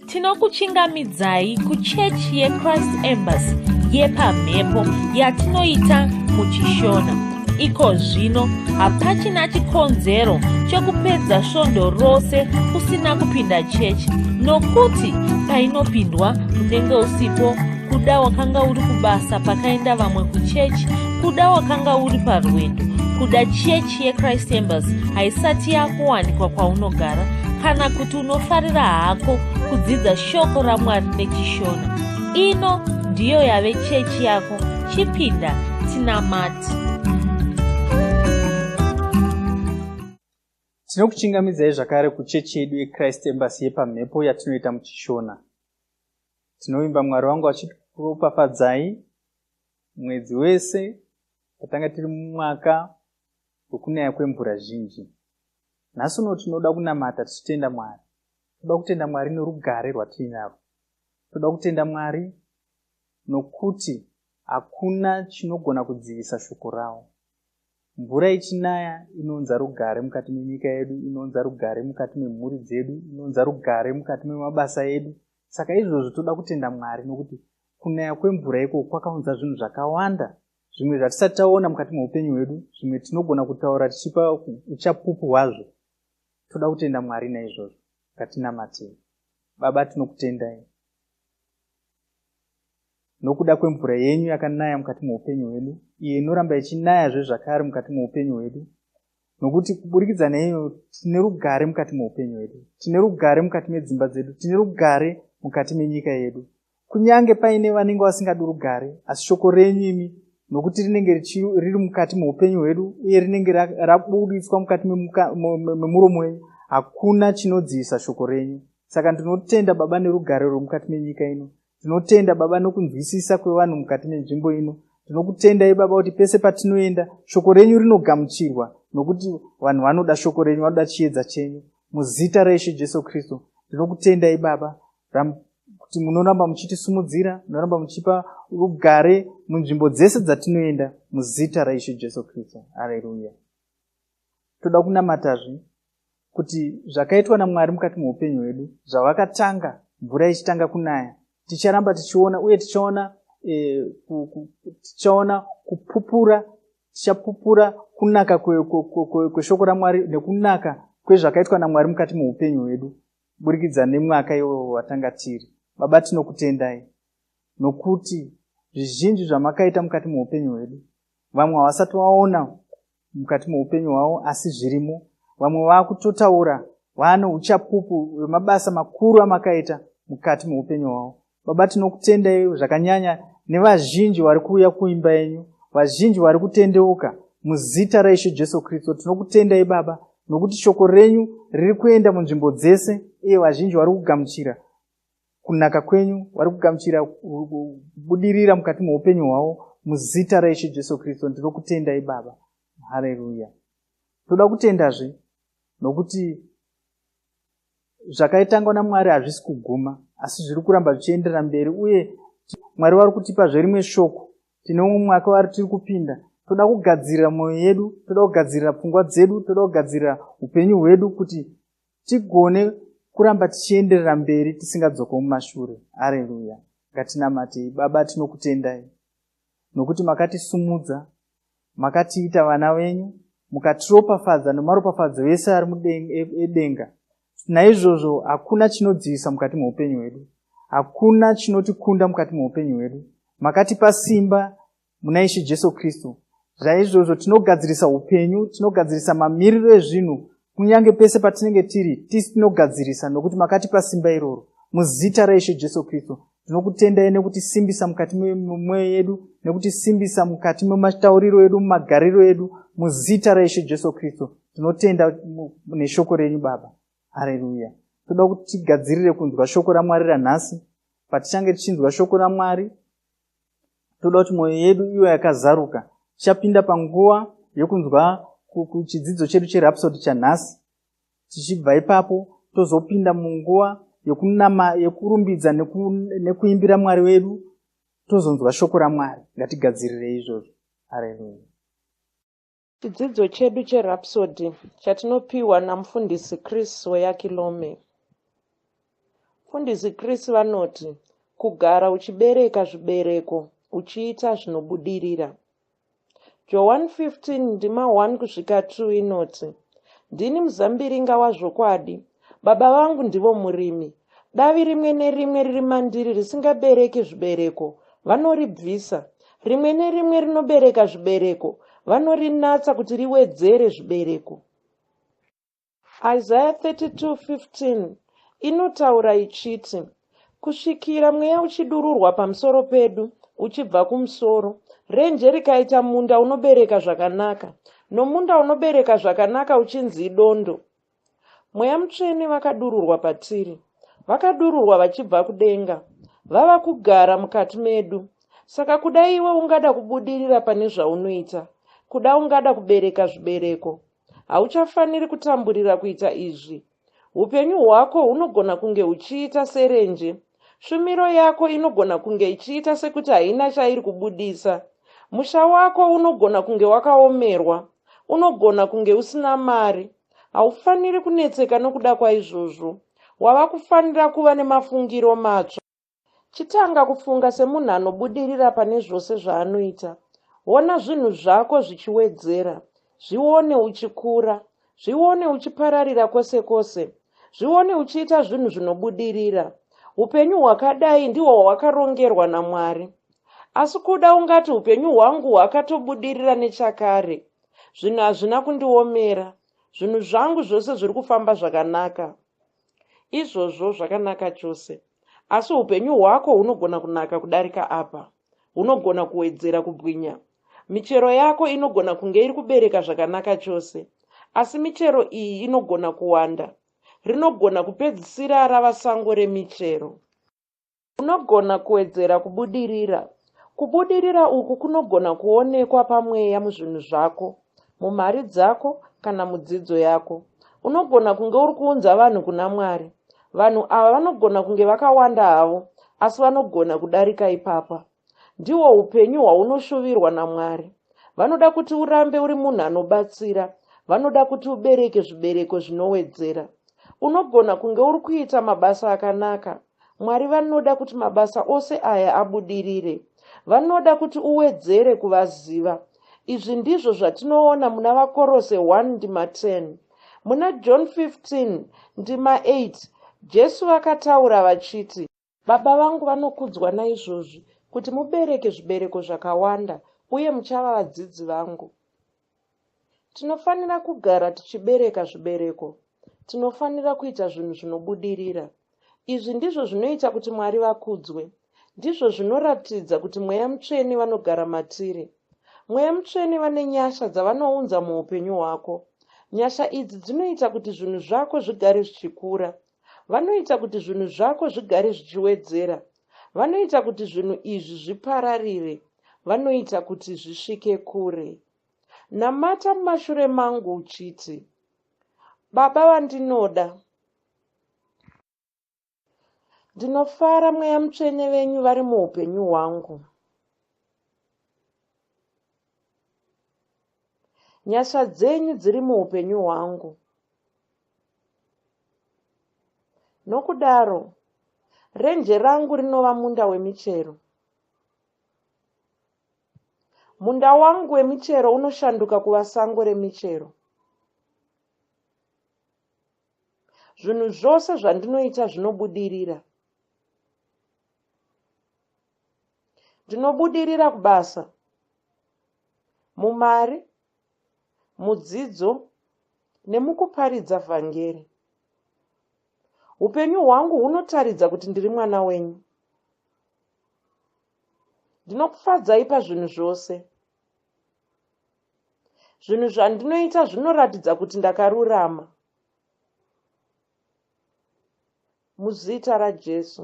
tinokuchingamidzai kuchechi yechrist embassy yepamhepo yatinoita muchishona iko zvino hapachina chikonzero chokupedza svondo rose usina kupinda chechi nokuti painopindwa unenge usipo kuda wakanga uri kubasa pakaenda vamwe kuchechi kuda wakanga uri parwendo kuda chechi yechrist embassy haisati yakuwanikwa kwaunogara kana kuti unofarira hako kudzidza shoko ramwari nechishona ino ndiyo yave chechi yako chipinda tinamati tinokuchingamidzai zvakare kuchechi yedu yechrist embasy yepamhepo yatinoita muchishona tinovimba mwari wangu achikuropafadzai mwedzi wese patanga tiri mumwaka wekunaya kwemvura zhinji nhasi uno tinoda kunamata tichitenda mwari toda kutenda mwari norugare rwatiinaro toda kutenda mwari nokuti hakuna chinogona kudzivisa shoko ravo mvura ichinaya inounza rugare mukati menyika yedu inounza rugare mukati memhuri dzedu inounza rugare mukati memabasa edu saka izvozvo toda kutenda mwari nokuti kunaya kwemvura ikoko kwakaunza zvinhu zvakawanda zvimwe zvatisati taona mukati meupenyu hwedu zvimwe tinogona kutaura tichipa uchapupu hwazvo toda kutenda mwari naizvozvo ngatinamatei baba tinokutendai nokuda kwemvura yenyu yakanaya mukati meupenyu hwedu iyo inoramba ichinayazve zvakare mukati meupenyu hwedu nokuti kuburikidza neiyo tine rugare mukati meupenyu hwedu tine rugare mukati medzimba dzedu tine rugare mukati menyika yedu kunyange paine vanenge vasingadi rugare asi shoko renyu imi nokuti rinenge riri mukati meupenyu hwedu uye rinenge rabuditswa mukati memuromo wenyu hakuna chinodzivisa shoko renyu saka ndinotenda baba nerugare rwemukati menyika ino tinotenda baba nokunzwisisa kwevanhu mukati menzvimbo ino tinokutendai baba kuti pese patinoenda shoko renyu rinogamuchirwa nokuti vanhu vanoda shoko renyu vanoda chiedza chenyu muzita raishe jesu kristu ndinokutendai baba kuti munoramba muchitisumudzira munoramba muchipa rugare munzvimbo dzese dzatinoenda muzita raishe jesu kristu areruya toda kunamatazve kuti zvakaitwa namwari mukati meupenyu hwedu zvavakatanga mvura ichitanga kunaya ticharamba tichiona uye tichaona eh, tichaona kupupura tichapupura kunaka kweshoko ramwari nekunaka kwezvakaitwa namwari mukati meupenyu hwedu burikidza nemwaka iwowo watanga tiri baba tinokutendai nokuti zvizhinji zvamakaita mukati meupenyu hwedu vamwe havasati vaona mukati meupenyu hwavo asi zvirimo vamwe vakutotaura vane uchapupu hwemabasa makuru amakaita mukati meupenyu hwavo baba tinokutendai zvakanyanya nevazhinji vari kuuya kuimba yenyu vazhinji vari kutendeuka muzita raisho jesu kristu tinokutendai baba nokuti shoko renyu riri kuenda munzvimbo dzese iye vazhinji vari kugamuchira kunaka kwenyu vari kugamuchira kubudirira mukati meupenyu hwavo muzita raishe jesu kristu ndino kutendai baba hareruya toda kutendazve nokuti zvakaitangwa namwari hazvisi kuguma asi zviri kuramba zvichienderera mberi uye mwari vari kutipa zverimwe shoko tine umwe mwaka vari tiri kupinda toda kugadzirira mwoyo yedu toda kugadzirira pfungwa dzedu toda kugadzirira upenyu hwedu kuti tigone kuramba tichienderera mberi tisingadzoke mumashure areruya ngatinamatei baba tinokutendai nokuti makatisumudza makatiita vana venyu mukatiropafadza nemaropafadzo ese ari edenga naizvozvo hakuna chinodzivisa mukati meupenyu hwedu hakuna chinotikunda mukati meupenyu hwedu makatipa simba muna ishe jesu kristu zvaizvozvo tinogadzirisa upenyu tinogadzirisa mamiriro ezvinhu kunyange pese patinenge tiri tisi tinogadzirisa nokuti makatipa simba iroro muzita raishe jesu kristu tinokutendai nekutisimbisa mukati memwoyo yedu nekutisimbisa mukati mematauriro edu mumagariro edu muzita raishe jesu kristu tinotenda neshoko renyu baba hareruya toda kuti tigadzirire kunzwa shoko ramwari ranhasi patichange tichinzwa shoko ramwari toda kuti mwoyo yedu iwe yakazaruka tichapinda panguva yokunzwa kuchidzidzo chedu cherapsodi chanhasi tichibva ipapo tozopinda munguva yokunama yokurumbidza neku, nekuimbira mwari wedu tozonzwa shoko ramwari ngatigadzirire izvozvo areluya Chidzidzo chedu cheRhapsody chatinopiwa naMufundisi Chris Soyakilome. Mufundisi Chris vanoti, Kugara uchibereka zvibereko uchiita zvinobudirira. Joan 15 ndima 1 kusvika 2 inoti, Ndini muzambiringa wazvokwadi, Baba vangu ndivo murimi. Davi rimwe nerimwe riri mandiri risingabereki zvibereko, vanoribvisa. Rimwe nerimwe rinobereka zvibereko, vanorinatsa kuti riwedzere zvibereko. Isaya 32:15 inotaura ichiti, Kusvikira mweya uchidururwa pamusoro pedu, uchibva kumusoro, renje rikaita munda unobereka zvakanaka, nomunda unobereka zvakanaka uchinzi idondo, Mweya Mutsvene vakadururwa patiri. Vakadururwa vachibva kudenga. Vava kugara mukati medu. Saka kuda iwe ungada kubudirira pane zvaunoita. Kuda ungada kubereka zvibereko. Hauchafaniri kutamburira kuita izvi. Upenyu hwako hunogona kunge huchiita serenje. Shumiro yako inogona kunge ichiita sekuti haina chairi kubudisa. Musha wako unogona kunge wakaomerwa. Unogona kunge usina mari. Haufaniri kunetseka nokuda kwaizvozvo. Wava kufanira kuva nemafungiro matsva. Chitanga kufunga semunhu anobudirira pane zvose zvaanoita. Ona zvinhu zvako zvichiwedzera. Zvione uchikura. Zvione uchipararira kwose kwose. Zvione uchiita zvinhu zvinobudirira. Upenyu hwakadai ndihwo hwawakarongerwa naMwari. Asi kuda ungati upenyu hwangu hwakatobudirira nechakare. zvinhu hazvina kundiomera zvinhu zvangu zvose zviri kufamba zvakanaka izvozvo zvakanaka chose asi upenyu hwako hunogona kunaka kudarika apa hunogona kuwedzera kubwinya michero yako inogona kunge iri kubereka zvakanaka chose asi michero iyi inogona kuwanda rinogona kupedzisira rava sango remichero Unogona kuwedzera kubudirira. Kubudirira uku kunogona kuonekwa pamweya muzvinhu zvako, mumari dzako, kana mudzidzo yako. Unogona kunge uri kuunza vanhu kuna Mwari. Vanhu ava vanogona kunge vakawanda havo, asi vanogona kudarika ipapa. Ndihwo upenyu hwaunoshuvirwa naMwari. Vanoda kuti urambe uri munhu anobatsira. Vanoda kuti ubereke zvibereko zvinowedzera. Unogona kunge uri kuita mabasa akanaka. Mwari vanoda kuti mabasa ose aya abudirire. Vanoda kuti uwedzere kuvaziva. Izvi ndizvo zvatinoona muna Vakorose 1 ndima 10. Muna John 15 ndima 8 Jesu vakataura vachiti, Baba vangu vanokudzwa naizvozvi, kuti mubereke zvibereko zvakawanda, uye muchava vadzidzi vangu. Tinofanira kugara tichibereka zvibereko. Tinofanira kuita zvinhu zvinobudirira. Izvi ndizvo zvinoita kuti Mwari vakudzwe. Ndizvo zvinoratidza kuti Mweya Mutsvene vanogara matiri. Mweya Mutsvene vane nyasha dzavanounza muupenyu hwako. Nyasha idzi dzinoita kuti zvinhu zvako zvigare zvichikura. vanoita kuti zvinhu zvako zvigare zvichiwedzera vanoita kuti zvinhu izvi zvipararire vanoita kuti zvisvike kure namata mumashure mangu uchiti baba vandinoda ndinofara mweya mutsvene venyu vari muupenyu hwangu Nyasha dzenyu dziri muupenyu hwangu. Nokudaro, renje rangu rinova munda wemichero. Munda wangu wemichero unoshanduka kuva sango remichero. Zvinhu zvose zvandinoita zvinobudirira. Ndinobudirira kubasa, mumari, mudzidzo nemukuparidza vhangeri. Upenyu hwangu hunotaridza kuti ndiri mwana wenyu. Ndinokufadzai pazvinhu zvose. Zvinhu zvandinoita zvinoratidza kuti ndakarurama. Muzita raJesu.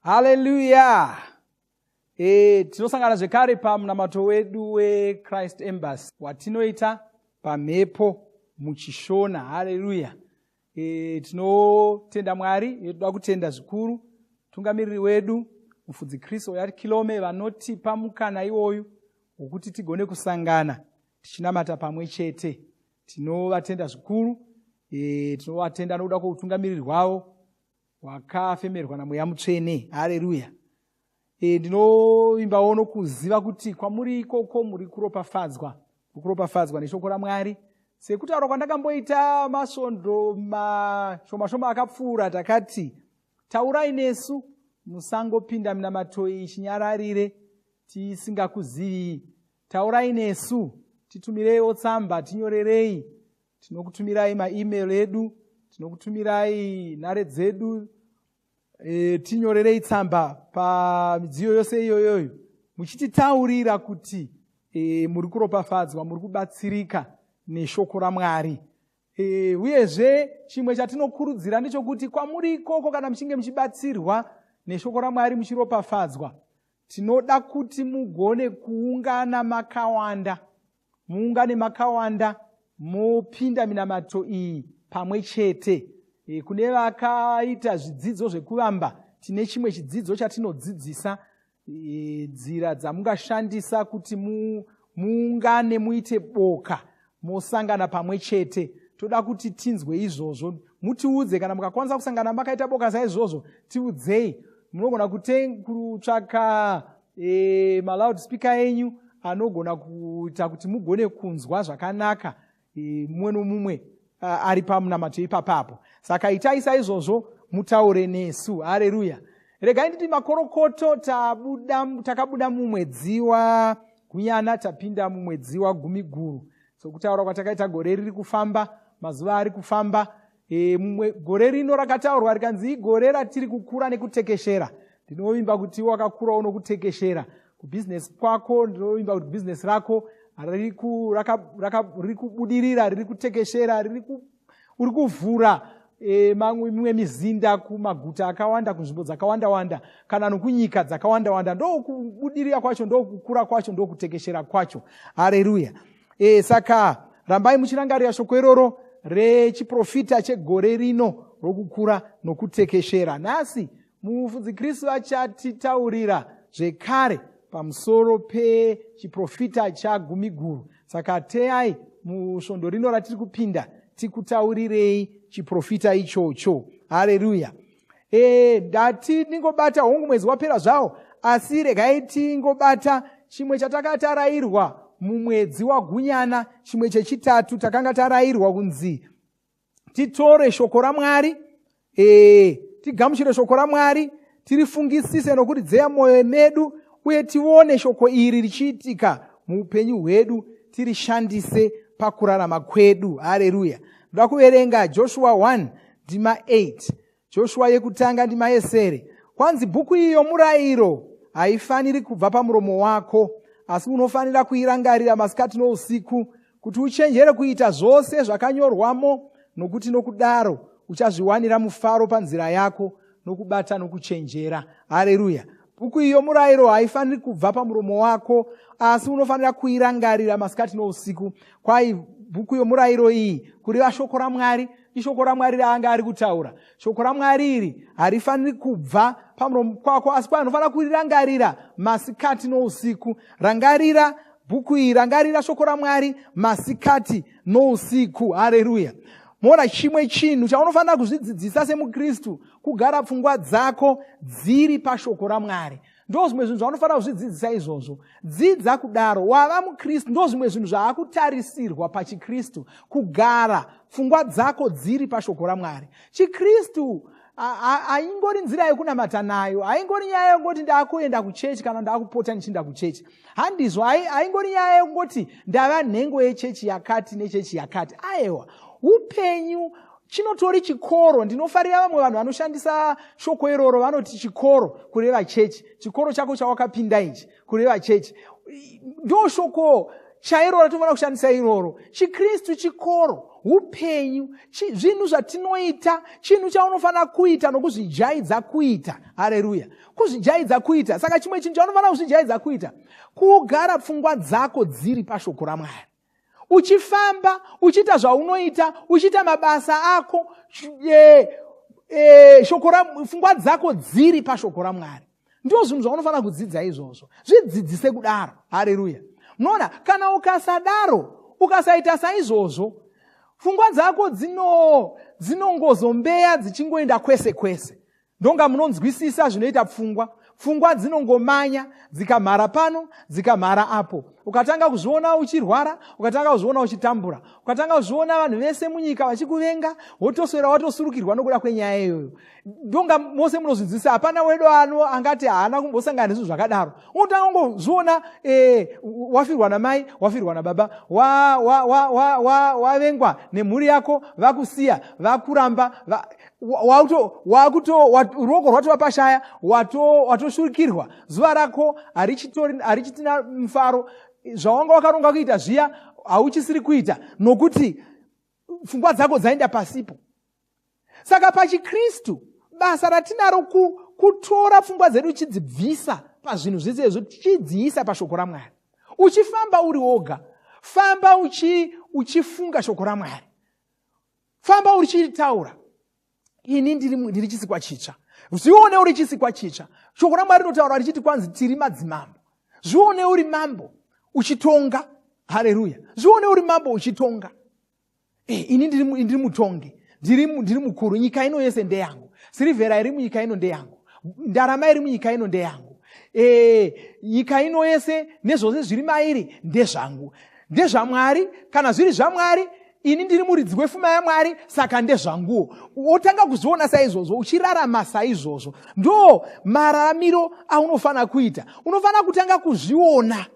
haleluya e, tinosangana zvekare pamunamato wedu wechrist embassy watinoita pamhepo muchishona haleluya e, tinotenda mwari yetoda kutenda zvikuru tungamiriri wedu mufudzi kristu oyati kilome vanotipa mukana iwoyu wokuti tigone kusangana tichinamata pamwe chete tinovatenda zvikuru e, tinovatenda nokuda kwoutungamiriri hwavo wakafemerwa namweya mutsvene hareruya e, ndinovimbawo nokuziva kuti kwamuri ikoko muri kuropafadzwa muri kuropafadzwa neshoko ramwari sekutaura kwandakamboita masvondo mashoma shoma akapfuura takati taurai nesu musangopinda minamato iyi chinyararire tisingakuzivii taurai nesu titumireiwo tsamba tinyorerei tinokutumirai maemail edu tinokutumirai nhare dzedu e, tinyorerei tsamba pamidziyo yose iyoyoyo muchititaurira kuti e, muri kuropafadzwa muri kubatsirika neshoko ramwari e, uyezve chimwe chatinokurudzira ndechokuti kwamuri ikoko kana muchinge muchibatsirwa neshoko ramwari muchiropafadzwa tinoda kuti mugone kuungana makawanda muungane makawanda mopinda minamato iyi pamwe chete e, kune vakaita zvidzidzo zvekuvamba tine chimwe chidzidzo chatinodzidzisa e, nzira dzamungashandisa kuti mu, muungane muite boka mosangana pamwe chete toda kuti tinzwe izvozvo mutiudze kana mukakwanisa kusangana makaita boka saizvozvo tiudzei munogona kutsvaka e, maloudspeaker enyu anogona kuita kuti mugone kunzwa zvakanaka e, mumwe nomumwe ari pamunamato ipapapo saka itai saizvozvo mutaure nesu hareruya regai nditi makorokoto takabuda mumwedzi wagunyana tapinda mumwedzi wagumiguru sokutaura kwatakaita gore riri kufamba mazuva ari kufamba e, mumwe gore rino rakataurwa rikanzi igore ratiri kukura nekutekeshera ndinovimba kuti wakakura unokutekeshera kubhizinesi kwako ndinovimba kuti bhizinesi rako riri kubudirira riri kutekeshera uri kuvhura e, mimwe mizinda kumaguta akawanda kunzvimbo dzakawanda wanda kana nokunyika dzakawanda wanda ndokubudirira kwacho ndokukura kwacho ndokutekeshera kwacho hareruya e, saka rambai muchirangarira shoko iroro rechiprofita chegore rino rokukura nokutekeshera nhasi mufudzi kristu achatitaurira zvekare pamusoro pechiprofita chagumi guru saka teyai musvondo rino ratiri kupinda tikutaurirei chiprofita ichocho hareruya ee eh, ndati ndingobata hongu mwedzi wapera zvawo asi regai tingobata chimwe chataka tarairwa mumwedzi wagunyana chimwe chechitatu takanga tarairwa kunzi titore shoko ramwari ee eh, tigamuchire shoko ramwari tirifungisise nokuridzeya mwoyo medu uye tione shoko iri richiitika muupenyu hwedu tirishandise pakurarama kwedu hareruya ndoda kuverenga joshua 1 ndima 8 joshua yekutanga ndima yesere kwanzi bhuku iyi yomurayiro haifaniri kubva pamuromo wako asi unofanira kuirangarira masikati nousiku kuti uchenjere kuita zvose zvakanyorwamo nokuti nokudaro uchazviwanira mufaro panzira yako nokubata nokuchenjera hareruya bhuku iyo murayiro haifaniri kubva pamuromo wako asi unofanira kuirangarira masikati nousiku kwai bhuku yomurayiro iyi kureva shoko ramwari ishoko ramwari raanga ari kutaura shoko ramwari iri harifaniri kubva pamuromo kwako asi kwai unofanira kurirangarira masikati nousiku rangarira bhuku iri rangarira shoko ramwari masikati nousiku hareruya mona chimwe chinhu chaunofanira kuzvidzidzisa semukristu kugara pfungwa dzako dziri pashoko ramwari ndo zvimwe zvinhu zvaunofanira kuzvidzidzisa izvozvo dzidza kudaro wava mukristu ndo zvimwe zvinhu zvaakutarisirwa pachikristu kugara pfungwa dzako dziri pashoko ramwari chikristu haingori nzira yekunamata nayo haingori nyaya yekungoti ndaakuenda kuchechi kana ndaakupota ndichiinda kuchechi handizvo haingori nyaya yekungoti ndava nhengo yechechi yakati nechechi yakati aewa upenyu chinotori chikoro ndinofarira vamwe vanhu vanoshandisa shoko iroro vanoti chikoro kureva chechi chikoro chako chawakapinda ichi kureva chechi ndo shoko chairo ratinofanira kushandisa iroro chikristu chikoro upenyu zvinhu zvatinoita chinhu chaunofanira kuita nokuzvijaidza kuita hareruya kuzvijaidza kuita saka chimwe chinhu chaunofanira kuzvijaidza kuita kugara pfungwa dzako dziri pashoko ramwari uchifamba uchiita zvaunoita uchiita mabasa ako e, e, pfungwa dzako dziri pashoko ramwari ndo zvinhu zvaunofanira kudzidza izvozvo zvidzidzise kudaro hareruya munoona kana ukasadaro ukasaita saizvozvo pfungwa dzako dzino dzinongozombeya dzichingoenda kwese kwese ndonga munonzwisisa zvinoita pfungwa pfungwa dzinongomanya dzikamhara pano dzikamhara apo ukatanga kuzviona uchirwara ukatanga kuzviona uchitambura ukatanga kuzviona vanhu vese munyika vachikuvenga wotoswera watosurukirwa nokuda kwenyaya iyoyo ndonga mose munozvinzwisisa hapana wedu ano angati haana kumbosangana nezvinhu zvakadaro unotanga kungozviona e, wafirwa namai wafirwa nababa wavengwa wa, wa, wa, wa, wa nemhuri yako vakusiya vakuramba va, ruoko rwatova pashaya watoshurikirwa zuva rako harichitina mufaro zvawanga wakaronga kuita zviya hauchisiri kuita nokuti pfungwa dzako dzaenda pasipo saka pachikristu basa ratinaro kutora pfungwa dzedu uchidzibvisa pazvinhu zvese izvo tichidziisa pashoko ramwari uchifamba uri woga famba uchifunga uchi shoko ramwari famba urichitaura ini ndiri, ndiri chisikwa chitsva zvione uri chisikwa chitsva shoko ramwari rinotaura richiti kwanzi tiri madzimambo zvione uri mambo uchitonga hareruya zvione uri mambo uchitonga e, ini ndiri, ndiri mutongi ndiri, ndiri mukuru nyika ino yese ndeyangu sirivhera iri munyika ino ndeyangu ndarama iri munyika ino ndeyangu e, nyika ino yese nezvose zviri mairi ndezvangu ndezvamwari kana zviri zvamwari ini ndiri muridzi wefuma yamwari saka ndezvanguwo wotanga kuzviona saizvozvo uchirarama saizvozvo ndo mararamiro aunofanira kuita unofanira kutanga kuzviona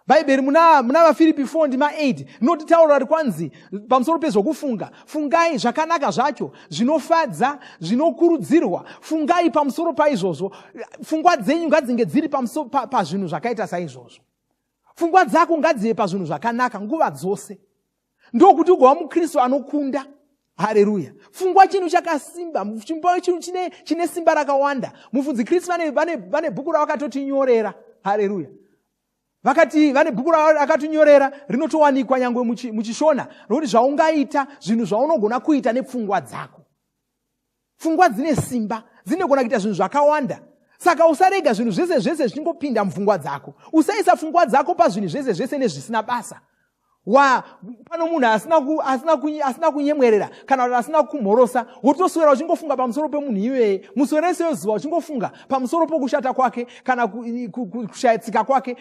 bhaibheri muna vafiripi 4 ndima 8 rinoti tauro ri kwanzi pamusoro pezvokufunga fungai zvakanaka zvacho zvinofadza zvinokurudzirwa fungai pamusoro paizvozvo fungwa dzenyu ngadzinge dziri pazvinhu pa, pa zvakaita saizvozvo fungwa dzako ngadzive pazvinhu zvakanaka nguva dzose ndokuti ugova mukristu anokunda hareruya fungwa chinhu chakasimba chimba chinhu chine, chine simba rakawanda mufudzi kristu vane, vane, vane bhuku ravakatotinyorera hareruya vakati vane bhuku rakatinyorera rinotowanikwa nyangwe muchishona rokuti zvaungaita zvinhu zvaunogona kuita nepfungwa dzako pfungwa dzine simba dzinogona kuita zvinhu zvakawanda saka usarega zvinhu zvese zvese zvichingopinda mupfungwa dzako usaisa pfungwa dzako pazvinhu zvese zvese nezvisina basa wa pano munhu asina kunyemwerera kana kuti asina kumhorosa wotoswera uchingofunga pamusoro pemunhu iyeye muswera ese yozuva uchingofunga pamusoro pokushata kwake kana kushayitsika kwake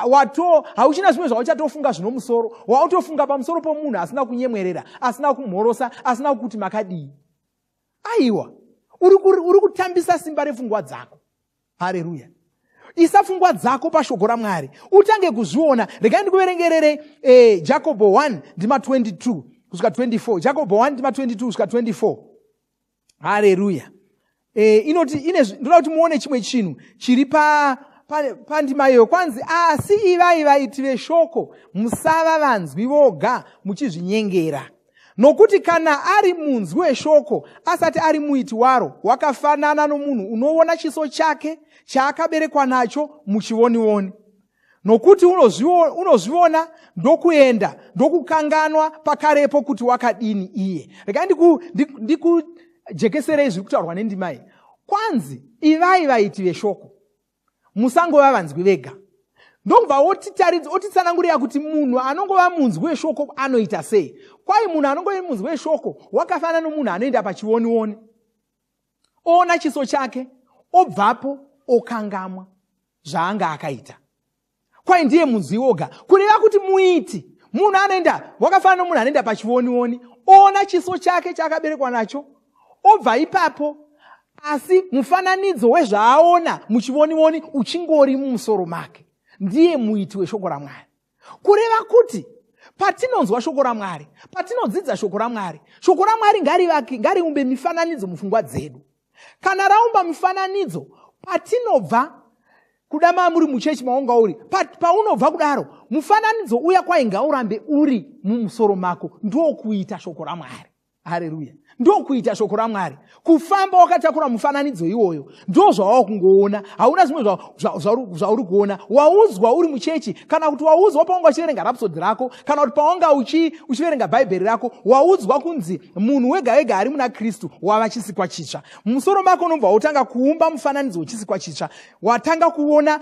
wato hauchina zvimwe zvauchatofunga zvino musoro wautofunga pamusoro pomunhu asina kunyemwerera asina kumhorosa asina kukuti makadii aiwa uri kutambisa simba refungwa dzako hareruya isa fungwa dzako pashoko ramwari utange kuzviona regai ndikuverengerere eh, jacobo 1 ndima 22 kusvika 24 jacobo 1 ndima 22 kusvika 24 hareruya eh, inoti ndinoda kuti muone chimwe chinhu chiri pa pandima iyoyo kwanzi asi ivai vaiti veshoko musava vanzwi voga muchizvinyengera nokuti kana ari munzwi weshoko asati ari muiti waro wakafanana nomunhu unoona chiso chake chaakaberekwa nacho muchivonioni nokuti unozviona ndokuenda ndokukanganwa pakarepo kuti wakadini iye rega ndikujekeserei zviri kutaurwa nendimai kwanzi ivai vaiti veshoko musangova vanzwi vega ndokubva otitaridza otitsanangurira kuti munhu anongova munzwi weshoko anoita sei kwai munhu anongova munzwi weshoko wakafanana nomunhu anoenda pachionioni oona chiso chake obvapo okangamwa zvaanga akaita kwai ndiye munzwi woga kureva kuti muiti munhu anoenda wakafanana nomunhu anoenda pachionioni oona chiso chake chaakaberekwa nacho obva ipapo asi mufananidzo wezvaaona muchivonioni uchingori mumusoro make ndiye muiti weshoko ramwari kureva kuti patinonzwa shoko ramwari patinodzidza shoko ramwari shoko ramwari ngariumbe mifananidzo mufungwa dzedu kana raumba mufananidzo patinobva kuda maa muri muchechi maunga uri paunobva kudaro mufananidzo uya kwainga urambe uri mumusoro mako ndokuita shoko ramwari hareruya ndokuita shoko ramwari kufamba wakatakura mufananidzo iwoyo ndo zvawava kungoona hauna zvimwe zvauri kuona waudzwa uri muchechi kana kuti waudzwa paunga uchiverenga rapsodi rako kana kuti paunga uchiverenga uchi bhaibheri rako waudzwa kunzi munhu wega wega ari muna kristu wava chisikwa chitsva mumusoro mako unobva wautanga kuumba mufananidzo wechisikwa chitsva watanga kuona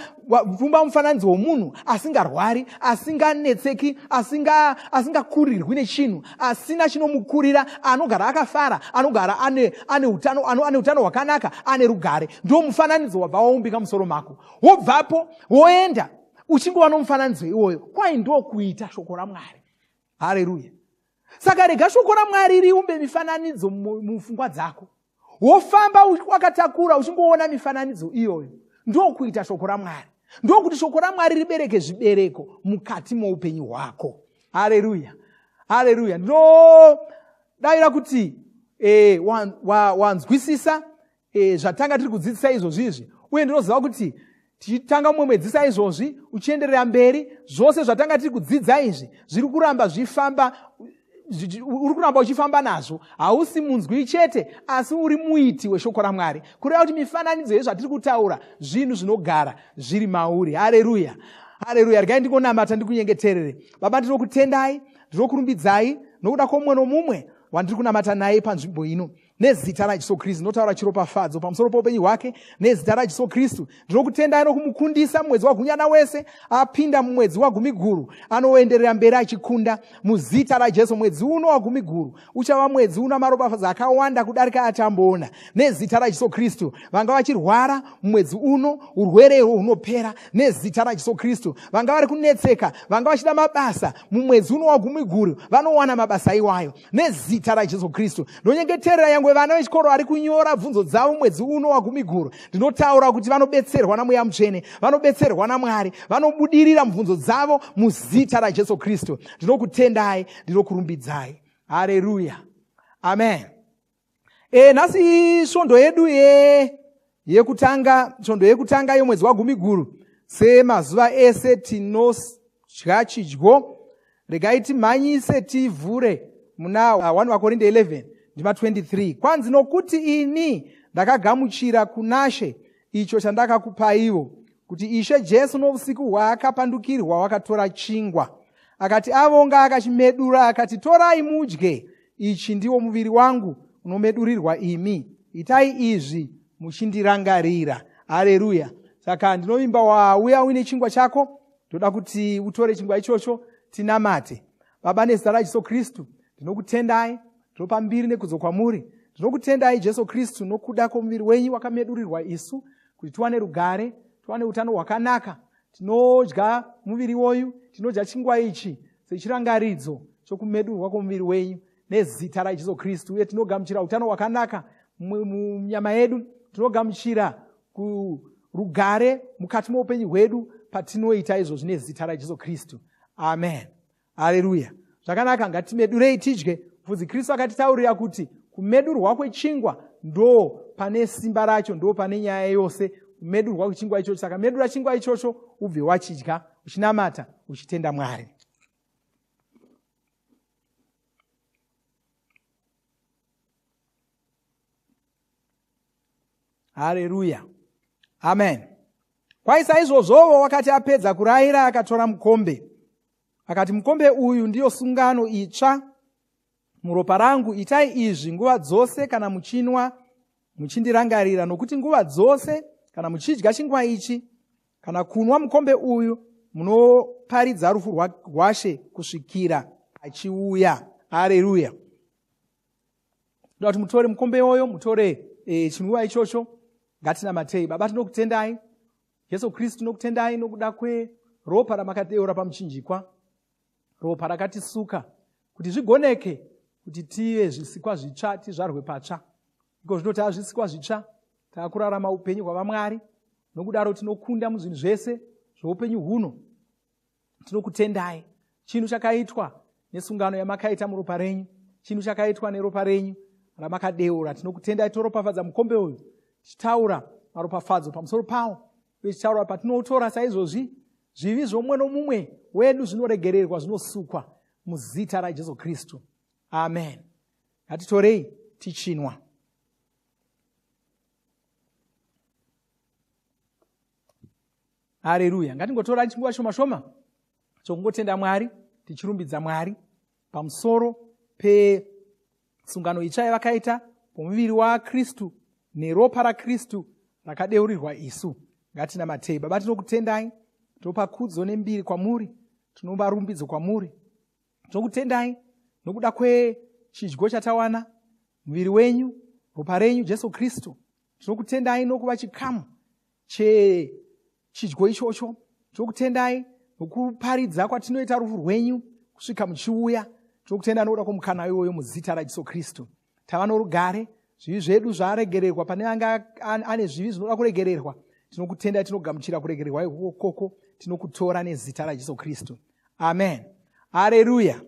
kuumba mufananidzo womunhu asingarwari asinganetseki asingakurirwi asinga nechinhu asina chinomukurira anogara akafara anogara ane utano ane, ane utano hwakanaka ane rugare ndo mufananidzo wabva waumbika musoro mako wobvapo woenda uchingova nomufananidzo iwoyo kwai ndokuita shoko ramwari hareruya saka rega shoko ramwari riumbe mifananidzo mupfungwa dzako wofamba wakatakura uchingoona mifananidzo iyoyo ndokuita shoko ramwari ndokuti shoko ramwari ribereke zvibereko mukati moupenyu hwako hareruya hareruya ndinodavira kuti e, wanzwisisa wa, wa e, zvatanga tiri kudzidzisa izvozvi izvi uye ndinoziva kuti tichitanga mumwe mwedzi saizvozvi uchienderera mberi zvose zvatanga tiri kudzidza izvi zviri kuramba zvifamba uri kuramba uchifamba nazvo hausi munzwi chete asi uri muiti weshoko ramwari kureva kuti mifananidzo yezvatiri kutaura zvinhu zvinogara zviri mauri hareruya hareruya regai ndikonamata ndikunyengeterere baba ndinokutendai ndinokurumbidzai nokuda kwomumwe nomumwe wandiri kunamata naye panzvimbo ino nezita rajesu kristu ndinotaura chiropafadzo pamusoro poupenyu hwake nezita rajesu kristu ndinokutendai nokumukundisa mumwedzi wagunyana wese apinda mumwedzi wagumiguru anoenderera mberi achikunda muzita rajesu mwedzi uno wagumiguru uchava mwedzi una maropafadzo akawanda kudarika atamboona nezita rajesu kristu vanga vachirwara mumwedzi uno urwere irwo hunopera nezita rajesu kristu vanga vari kunetseka vanga vachida mabasa mumwedzi uno wagumiguru vanowana mabasa iwayo nezita rajesu kristu ndonyengeterera yange vana vechikoro vari kunyora bvunzo dzavo mwedzi uno wagumiguru ndinotaura kuti vanobetserwa namweya mutsvene vanobetserwa namwari vanobudirira mubvunzo dzavo muzita rajesu kristu ndinokutendai ndinokurumbidzai hareruya amen e, nhasi svondo yedu ye yekutanga svondo yekutanga yomwedzi wagumi guru semazuva ese tinodya chidyo regai timhanyise tivhure muna 1 vakorinde 11 ndima 23 kwanzi nokuti ini ndakagamuchira kunashe icho chandakakupaivo kuti ishe jesu nousiku hwaakapandukirwa wakatora chingwa akati avonga akachimedura akati torai mudye ichi ndiwo muviri wangu unomedurirwa imi itai izvi muchindirangarira hareruya saka ndinovimba wauya uine chingwa chako ndoda kuti utore chingwa ichocho tinamate baba nezita rajesu kristu ndinokutendai ndinopa mbiri nekudzo kwamuri ndinokutendai jesu kristu nokuda kwomuviri wenyu wakamedurirwa isu kuti tiwane rugare tiwane utano hwakanaka tinodya muviri woyu tinodya chingwa ichi sechirangaridzo chokumedurwa kwomuviri wenyu nezita rajesu kristu uye tinogamuchira utano hwakanaka munyama yedu tinogamuchira kurugare mukati moupenyu hwedu patinoita izvo zvine zita rajesu kristu amen hareruya zvakanaka ngatimedurei tidye bvudzi kristu akatitaurira kuti kumedurwa kwechingwa ndo pane simba racho ndo pane nyaya yose kumedurwa kwechingwa ichocho saka medura chingwa ichocho ubve wachidya uchinamata uchitenda mwari hareruya amen kwai saizvozvovo wakati apedza kurayira akatora mukombe akati mukombe uyu ndiyo sungano itsva muropa rangu itai izvi nguva dzose kana muchinwa muchindirangarira nokuti nguva dzose kana muchidya chingwa ichi kana kunwa mukombe uyu munoparidza rufu rwashe kusvikira achiuya areruya ndoda kuti mutore mukombe iwoyo mutore e, chinwiwa ichocho ngatinamatei baba tinokutendai jesu kristu tinokutendai nokuda kweropa ramakadeura pamuchinjikwa ropa rakatisuka kuti zvigoneke kuti tive zvisikwa zvitsva tizvarwe patsva iko zvino taa zvisikwa zvitsva taakurarama upenyu hwavamwari nokudaro tinokunda muzvinhu zvese zveupenyu huno tinokutendai chinhu chakaitwa nesungano yamakaita muropa renyu chinhu chakaitwa neropa renyu ramakadeura tinokutendai toropafadza mukombe uyu tichitaura maropafadzo pamusoro pawo uye tichitaura patinoutora saizvozvi zvivi zvomumwe nomumwe wedu zvinoregererwa zvinosukwa muzita rajesu kristu amen ngatitorei tichinwa hareruya ngatingotora chinguva shoma shoma chokungotenda mwari tichirumbidza mwari pamusoro pesungano itsva yavakaita pomuviri wakristu neropa rakristu rakadeurirwa isu ngatinamatei baba tinokutendai tinopa kudzo nembiri kwamuri tinopa rumbidzo kwamuri tinokutendai nokuda kwechidyo chatawana muviri wenyu ropa renyu jesu kristu tinokutendai nokuva chikamu chechidyo ichocho tinokutendai nokuparidza kwatinoita rufu rwenyu kusvika muchiuya tinokutenda nokuda kwomukana iwoyo muzita rajesu kristu tava norugare zvivi zvedu zvaregererwa pane anga ane zvivi zvinoda kuregererwa tinokutendai tinogamuchira kuregererwa ikoko koko tinokutora nezita rajesu kristu amen hareruya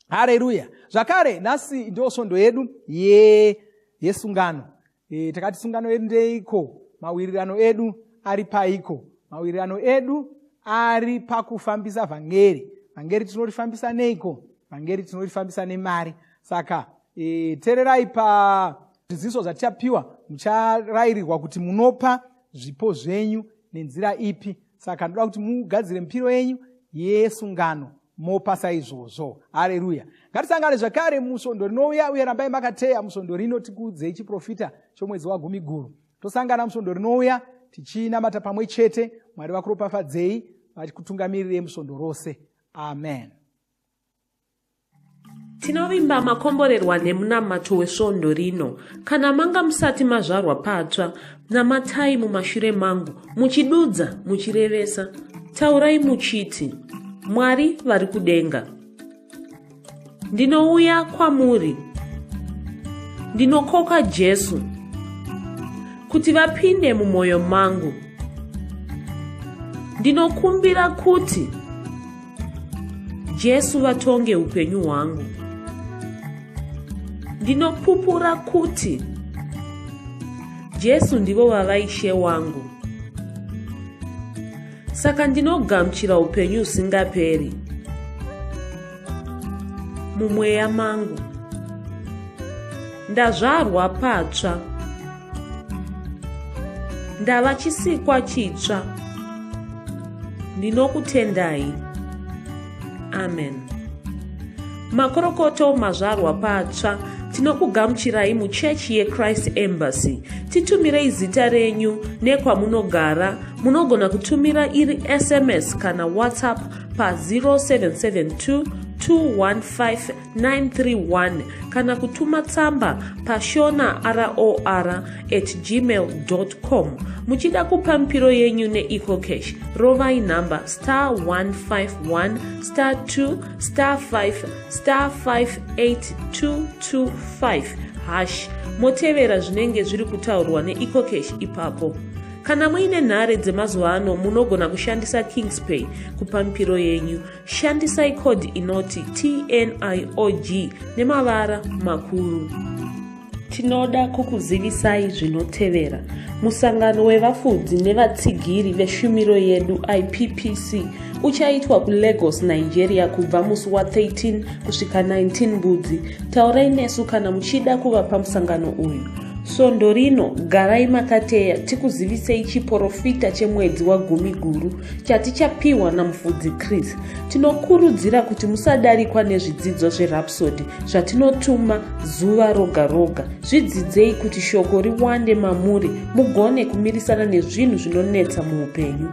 hareruya zvakare nhasi ndo svondo yedu ye yesungano e, takati sungano yedu ndeiko mawirirano edu ari paiko mawirirano edu ari pakufambisa vhangeri vhangeri tinorifambisa neiko vhangeri tinorifambisa nemari saka e, tererai pazviziso zvatichapiwa mucharayirirwa kuti munopa zvipo zvenyu nenzira ipi saka ndoda kuti mugadzire mipiro yenyu yesungano mopasa izvozvo hareruya ngatisangane zvekare musvondo rinouya uye rambai makateya musvondo rino tikuudzei chiprofita chomwedzi wagumi guru tosangana musvondo rinouya tichinamata pamwe chete mwari vakuropafadzei vachikutungamirire musvondo rose amen Tinovimba makomborerwa nemunamato wesvondo rino. Kana manga musati mazvarwa patsva, namatai mumashure mangu, muchidudza, muchirevesa. Taurai muchiti, Mwari vari kudenga. Ndinouya kwamuri. Ndinokoka Jesu kuti vapinde mumwoyo mangu. Ndinokumbira kuti Jesu vatonge upenyu hwangu. Ndinopupura kuti Jesu ndivo vava ishe wangu. Saka ndinogamuchira upenyu usingaperi mumweya mangu. Ndazvarwa patsva. ndava chisikwa chitsva ndinokutendai amen makorokoto mazvarwa patsva tinokugamuchirai muchechi yechrist embassy titumirei zita renyu nekwamunogara munogona kutumira iri sms kana whatsapp pa 0772 215 931 kana kutuma tsamba pashona ror at gmail com muchida kupa mipiro yenyu neecocash rovai nhamba star 151 star 2 star 5 star 58225 hash motevera zvinenge zviri kutaurwa neecocash ipapo kana muine nhare dzemazuva ano munogona kushandisa kingspay kupa mipiro yenyu Shandisai code inoti TNIOG nemavara makuru. Tinoda kukuzivisai zvinotevera. Musangano wevafudzi nevatsigiri veshumiro yedu IPPC uchaitwa kuLagos, Nigeria kubva musi wa 13 kusvika 19 Mbudzi. Taurai nesu kana muchida kuva pamusangano uyu. Svondo rino garai makateya tikuzivisei chiporofita chemwedzi wagumi guru. chatichapiwa namufudzi chris tinokurudzira kuti musadarikwa nezvidzidzo zverapsody zvatinotuma zuva roga roga zvidzidzei kuti shoko riwande mamuri mugone kumirisana nezvinhu zvinonetsa muupenyu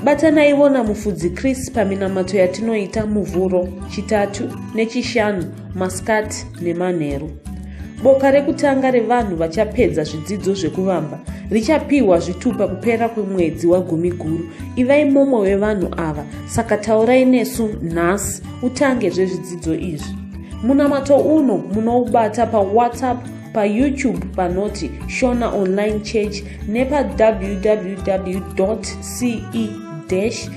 batanaivo namufudzi chris paminamato yatinoita muvhuro chitatu nechishanu masikati nemanheru boka rekutanga revanhu vachapedza zvidzidzo zvekuvamba richapiwa zvitupa kupera kwemwedzi wagumi guru ivai mumwe wevanhu ava saka taurai nesu nhasi utange zvezvidzidzo izvi munamato uno munoubata pawhatsapp payoutube panoti shona online church nepawww ce